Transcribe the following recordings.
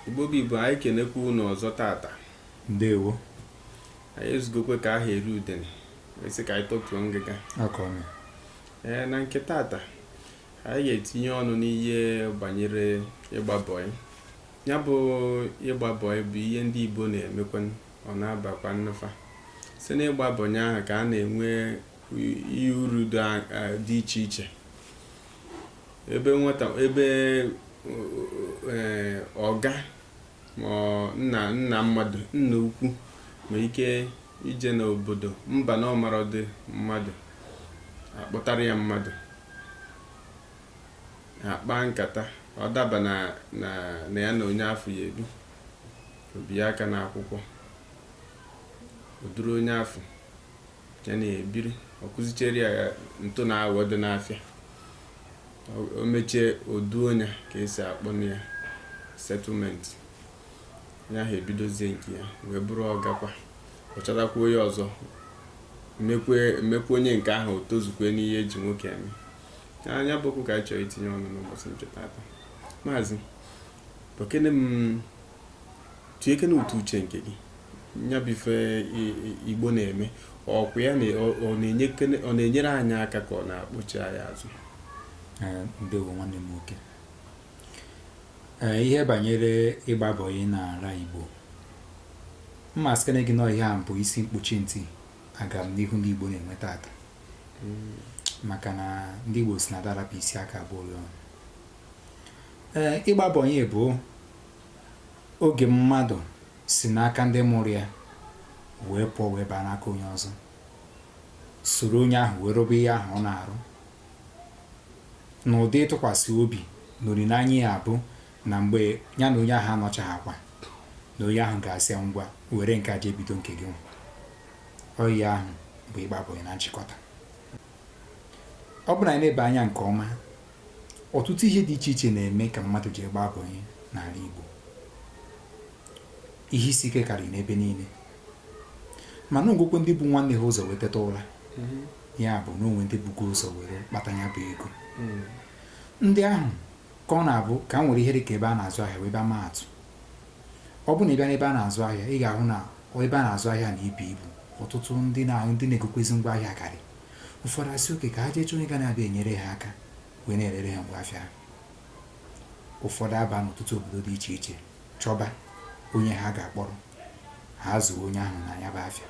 Igbo bụ Igbo, anyị kenekwa unu ọzọ tata. Ndewo. Anyị ezugokwe ka aha eri udene, esi ka anyị tọtuo ngịga. Ee, na nke tata, anyị ga-etinye ọnụ n'ihe banyere ịgba bọị. Ya bụ ịgba bọị bụ ihe ndị Igbo na-emekwa ọ na-abakwanụ fa. Si n'ịgba bọị ahụ ka a na-enwe ihe uru dị iche iche. ebe nwata ebe eh, ọga ma nna nna mmadụ nna ukwu nwe ike ije n'obodo mba na ọ marọdị mmadụ a kpọtara ya mmadụ a kpaa nkata ọ daba na na ya na onye afụ ya-ebi o bịa aka n'akwụkwọ o duru onye afụ ya na-ebiri ọ kụzichere ya ntụ na aghọ dị n'afịa o mechie o duo ya ka e si akpọnụ ya settlement ya ha ebidozie nke ya wee bụrụ ọgakwa ọ chọtakwa onye ọzọ mekwaa onye nke ahụ o tozukwe n'ihe e ji nwoke eme nya bụ okwu ka anyị chọrọ itinye ọnụ n'ụbọchị nke tata maazị bụkene m tụnyekene ụtụ uche nke gị ya bụ ife igbo na-eme ọkwa ya ọ na-enyere anyị aka ka ọ na-akpọchi anyị azụ ndewo nwanne m nwoke ihe banyere ịgba bọyị na ala igbo mma sikene gị na ọ ihe a bụ isi mkpuchi ntị agamnihu ndị igbo na-enwe tata hmm. maka na ndị igbo si na a da-arapụ isi aka agba ụrịọ ee ịgba bọyị bụ Oge mmadụ si n'aka ndị mụrụ ya wee pụọ wee baa n'aka onye ọzọ, soro onye ahụ wee rụba ihe ahụ ọ na-arụ n'ụdị ịtụkwasị obi na olileanya ya bụ na mgbe ya na onye ahụ anọchaghakwa na onye ahụ ga-asị ngwa were nke a jee bido nke gị nwa ọ ihe ahụ bụ ịgba bọyị na nchịkọta ọ bụ na anyị nebe anya nke ọma Ọtụtụ ihe dị iche iche na-eme ka mmadụ ji agba bọị n'ala Igbo. Ihe isi ike karịrị n'ebe niile. Mana o nwekwe ndị bu nwanne ha ụzọ wee teta ụra. Mm-hmm. Ya bụ na o nwe ndị bugo ụzọ were kpata ya bụ ego. Mm. Ndị ahụ ka ọ na-abụ ka m were ihe dị ka ebe a na-azụ ahịa wee bịa maa atụ. Ọ bụ na ị bịa n'ebe a na-azụ ahịa, ị ga-ahụ na ebe a na-azụ ahịa na-ebu ibu. Ọtụtụ ndị na-egokwezi ngwa ahịa karị. ụfọdụ asị okay ka ha jee chọọ onye ga na-abịa enyere ha aka wee na-erere ha ngwa afịa ha ụfọdụ aba n'ọtụtụ obodo dị iche iche chọba onye ha ga-akpọrọ ha zụọ onye ahụ na ya bụ afịa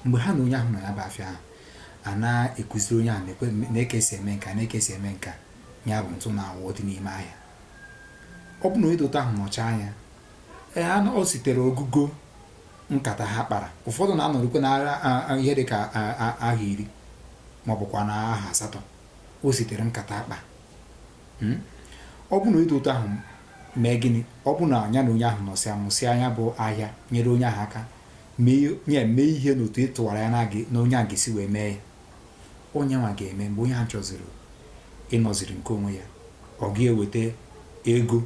mgbe ha na onye ahụ na ya bụ afịa ahụ a na-ekụziri onye ahụ nee ka e si eme nka nee ka e si eme nka ya bụ ntụ na awọ dị n'ime ahịa ọ bụ na onye dị otu ahụ nọcha anya ee o sitere ogugo nkata ha kpara ụfọdụ na-anọrụkwe na ihe dị ka aha iri ma ọ bụkwa na aha asatọ o sitere nkata a kpa hmm? ọ bụ na onye dị otu ahụ mee gịnị ọ bụ na ya na onye ahụ nọsịa mụsịa ya bụ ahịa nyere onye ahụ aka ya mee ihe n'otu ị tụwara anya na onye a ga-esi wee mee ya onye nwa ga-eme mgbe onye ahụ chọziri ịnọziri nke onwe ya ọ ga-eweta ego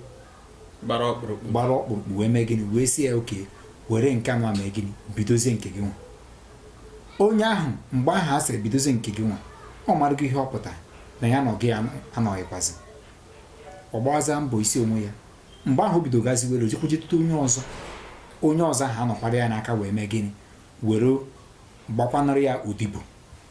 gbara ọkpụrụkpụ gbara ọkpụrụkpụ wee mee gịnị wee sị ya okay were nke nwa mee gịnị bidozie nke gị nwa onye ahụ mgbe ahụ a sịrị bidozie nke gị nwa ọ marụgo ihe ọ pụtara na ya na gị anọghịkwazi ọ gbawazi mbọ isi onwe ya mgbe ahụ o bido gazi were ojekwujetụta onye ọzọ onye ọzọ ahụ anọkwara ya n'aka wee mee gịnị were gbakwanụrụ ya odibo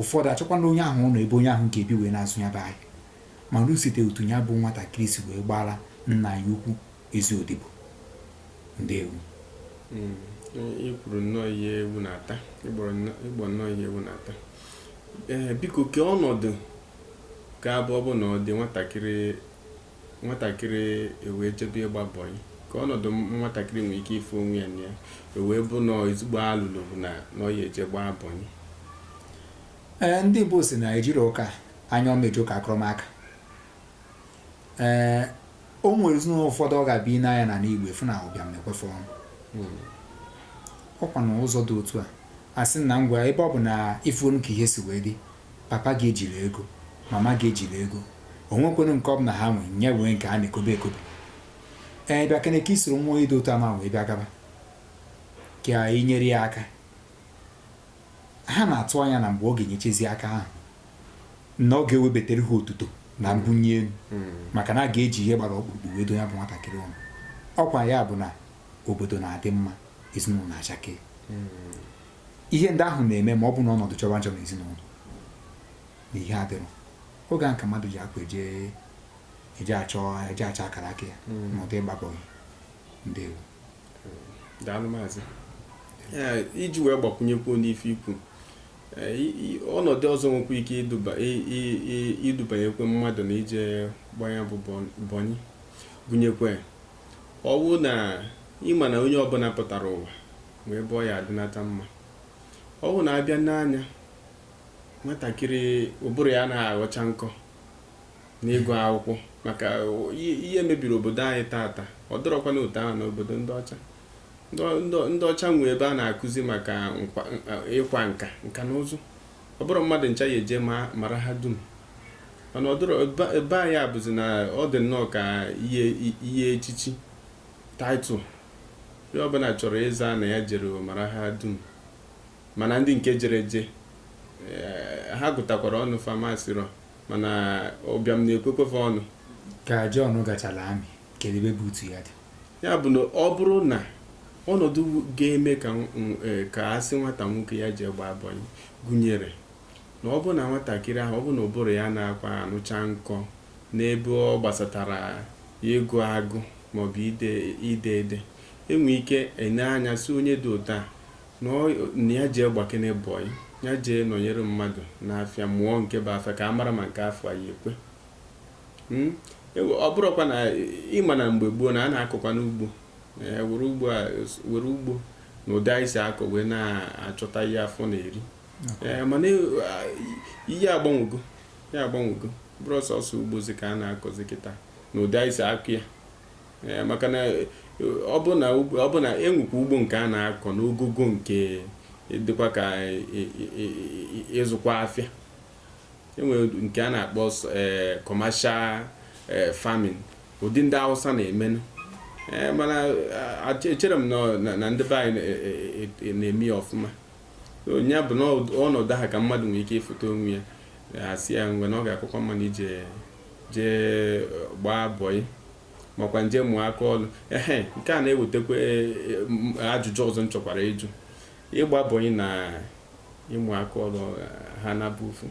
Ụfọdụ achọkwana onye ahụ ụnọ ebe onye ahụ ga-ebi wee na-azụ ya bụ ahịa. Mana o site otu ya bụ nwatakịrị si wee gbara nna ya ukwu ezi odibo. Ndewo. Mm, e, i kwuru nnọọ ihe ewu na-ata i gbu nnọọ ihe ewu na-ata ee biko kee ọnọdụ ga-abụ ọ bụ na ọ dị nwatakịrị nwatakịrị ewee jebe ịgba bọyị ka ọnọdụ nwatakịrị nwere ike ịfụ onwe ya na ya ewee bụ na ezigbo alụlụ bụ na ọ ya-eje gbaa bọyị ee ndị Igbo si na ejirọkwa anya ọma eje ụka akụrụ m aka ee o nwere ezinụlọ ụfọdụ ọ ga-abịa n'anya na n'Igbo efu na ụbịam na-ekwefe ọnụ hmm. ọkwa na ụzọ dị otu a a sị na ngwa ebe ọ bụ na ị fụrụ ka ihe si wee dị Papa gị ejirọ ego, mama gị ejirọ ego. O nwekwenụ nke ọ bụ na ha nwe, nye wee nke ha na-ekobe ekobe. Ee, bịa kene ka i soro nwa onye dị otu nwa wee bịa gaba. Ka i nyere ya aka. Ha na-atụ anya na mgbe ọ ga-enyechezi aka ahụ, na ọ ga-ewebatara ha otuto na mbunye elu maka na a ga-eji ihe gbara ọkpụrụkpụ wee duo ya bụ nwatakịrị ụnọ. Ọkwa ya bụ na obodo na-adị mma, ezinụlọ na-achake. ihe ndị ahụ na-eme ma ọ bụ na ọnọdụ jọba njọ n'ezinụlọ na ihe adịrọ oge a ka mmadụ ji akwa eje achọ akara aka ya hmm. na ụdị ịgba bọyị ndewo daalụ maazị iji wee gbakwunyekwu n'ife i kwu ọnọdụ ọzọ nwekwa ike idubanyekwe mmadụ na ije gbaa nya bụ bọyị gụnyekwe ọ wụ na ị ma na onye ọbụla pụtara ụwa ma ebe ọ ya adịnata mma ọ bụ na abịa n'anya nwatakịrị ụbụrụ ya anaghị aghọcha nkọ n'ịgụ akwụkwọ maka ihe mebiri obodo anyị taata ọ dịrọkwa n'otu ahụ n'obodo ndị ọcha ndị ọcha nwe ebe a na-akụzi maka ịkwa nka nka na ụzụ ọ bụrọ mmadụ ncha ya-eje marahadum mana ọ dọrọ ebe anyị abụzi na ọ dị nnọọ ka ihe echichi Title, Onye ọbụla chọrọ ịza na ya jere marahadum mana ndị nke jere je eh, ha gụtakwara ọnụ fa masịrọ mana ụbịam na-ekwekwefe ọnụ ka John gachara army kedu ebe boot ya dị ya bụ na ọ bụrụ na ọnọdụ ga-eme ka nw- nw- eh, ka a sị nwata nwoke ya jee gbaa bọyị gụnyere na ọ bụrụ na nwatakịrị ahụ ọ bụ na ụbụrụ ya anakwa anụcha nkọ N'ebe ọ gbasatara ịgụ agụ maọbụ ide ide ede, e nwee ike e nee anya sị onye dị otu a na ọ na ya jee gbakene bọị, ya jee nọnyere mmadụ n'afịa mụọ nke bụ afịa ka a mara ma nke afịa ya-ekwe. Mm, e we- ọ bụrụkwa na ị ma na mgbe gboo na a na-akọkwanụ ugbo ee, were ugbo a- were ugbo na ụdị anyị si akọ wee na-achọta ihe afọ na-eri Ee, mana e- a- ihe agbanwego ya agbanwego ọ bụrọ sọsọ ugbozi ka a na-akọzi kịta na ụdị anyị si akọ ya eh, maka na eh, ọ bụ na enwekwa ugbo nke a na-akọ n'ogogo nke dịkwa ka ịzụkwa afịa enwere nke a na-akpọ eh, commercial farming ụdị ndị Hausa na-emenụ mana echerọ m na ndị be anyị na-eme ya ọfụma nya bụ na ọnọdụ ahụ ka mmadụ nwere ike ịfụta onwe ya asị ya ngwa na ọ ga-akakwa mma na i jee gbaa bọị makwanụ jee mụọ aka ọlụ ehe nke a na-ewetakwa e, e, ajụjụ ọzọ m chọkwara ịjụ ịgba bọị na ịmụ aka ọlụ ha na-abụ ofu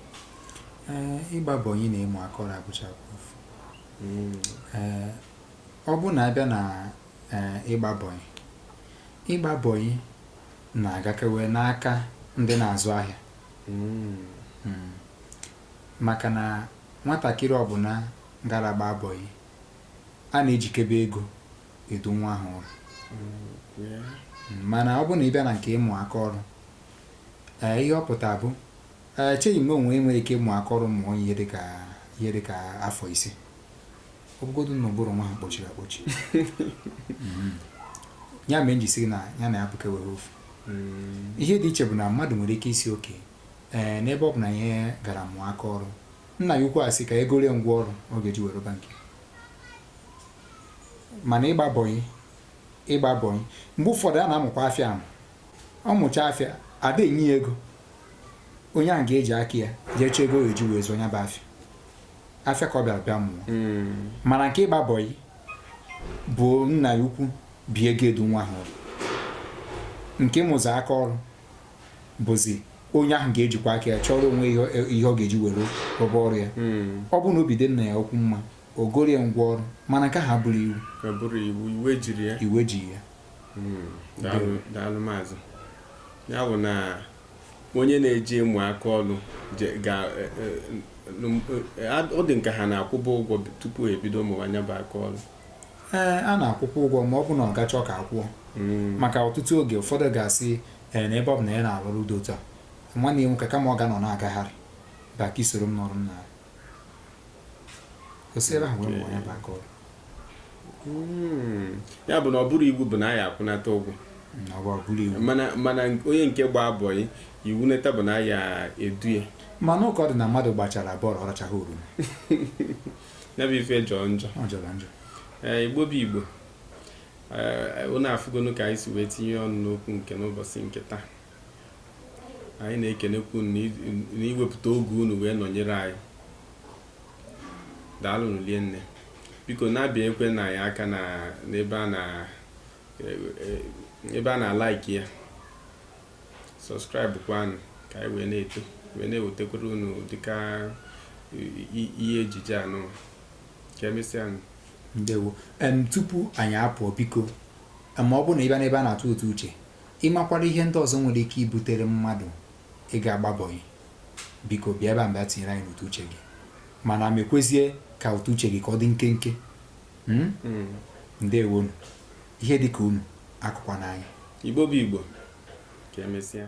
ịgba bọị na ịmụ aka ọlụ abụchaghị ofu hmm. ọ bụ na abịa na ịgba bọị ịgba bọị na-agakewe n'aka ndị na-azụ ahịa mm. maka na nwatakịrị ọbụla gara ịgba bọị a na-ejikebe ego edu nwa ahụ ụlọ mm, mana ọ bụ na ị bịa na nke ịmụ aka ọrụ ee ihe ọ pụta bụ echeghị m o nwe i nwere ike ịmụ aka ọrụ mụọ ihe dịka ihe dịka afọ ise ọ bụgodu na ụbụrụ nwa a kpọchiri akpọchi mm-hmm. ya mere m ji sị na ya na ya bụkwa ofu mm. ihe dị iche bụ na mmadụ nwere ike ịsị okay ee eh, n'ebe ọ bụ na onye gara mụọ aka ọrụ nna ya ukwu asị ka e goro ya ngwa ọrụ ọ ga-eji wee rụba nke ya mana ịgba bọyị ịgba bọyị mgbe ụfọdụ a na-amụkwa afịa ahụ ọ mụcha afịa a da enye ya ego onye ahụ ga-eji aka ya jee chọọ ego o ji wee zụọ ya bụ afịa afịa ka ọ bịara bịa mụọ hmm. mana nke ịgba bọyị bụ nna ya ukwu bụ ya ga-edu nwa ahụ nke ịmụzi aka ọrụ bụzi onye ahụ ga-ejikwa aka ya chọrọ onwe ya ihe ọ ga-eji were rụba ọrụ ya hmm. ọ bụrụ na obi dị nna ya ukwu mma o goro ya ngwa ọrụ mana nke a abụrọ iwu iwu ejirọ ya hmm. daalụ maazị ya bụ na onye na-eje ịmụ aka ọrụ ọ dị nke a na-akwụba ụgwọ tupu e bido mụwa nya bụ aka ọrụ ee a na-akwụkwa ụgwọ ma ọ bụ na ọga chọọ ka a kwụọ hmm. maka ọtụtụ oge ụfọdụ ga-asị ee na ebe ọ bụ na ya na-arụ ọrụ ụdị otu a nwanne ya nwoke kama ọ ga-anọ na-agagharị bịa ka i soro m nọrọ na Hmm. ya bụ na ọ bụrọ iwu bụ na a ya-akwụnata ụgwọ mana onye nke gba bọyị iwu neta bụ na a ya-edu ya mana ụka ọ dị na mmadụ gbachara bọọlụ ọ rachaghị oroma ya bụ ife jọọ njọ eh, igbo bụ igbo eh, ụnụ afụgonu ka anyị si wee tinye ọnụ n'okwu nke n'ụbọchị nke taa anyị na-ekenekwu unu na iwepụta oge unu wee nọnyere anyị daalụnụ lie nne biko na-abịanyekwara anyị aka n'ebe a na eh, eh, ebe a na-alaiki ya sọskraịbụ kwanụ ka anyị wee na-eto wee na-ewetakwara unu dịka ihe ejije anụ ka emesịa ndewo tupu anyị apụọ biko ma ọ bụ na ị bịa n'ebe a na-atụ ụtụ uche Ị makwara ihe ndị ọzọ nwere ike ibutere mmadụ ịga ịgba bọyị, biko bịa ebe a mgbe a tinyere anyị n'ụtụ uche gị mana mekwezie ka ụtụ uche gị ka ọ dị nkenke hmm? Hmm. ndewonu ihe dị ka unu akọkwana anyị Igbo bụ Igbo ka emesịa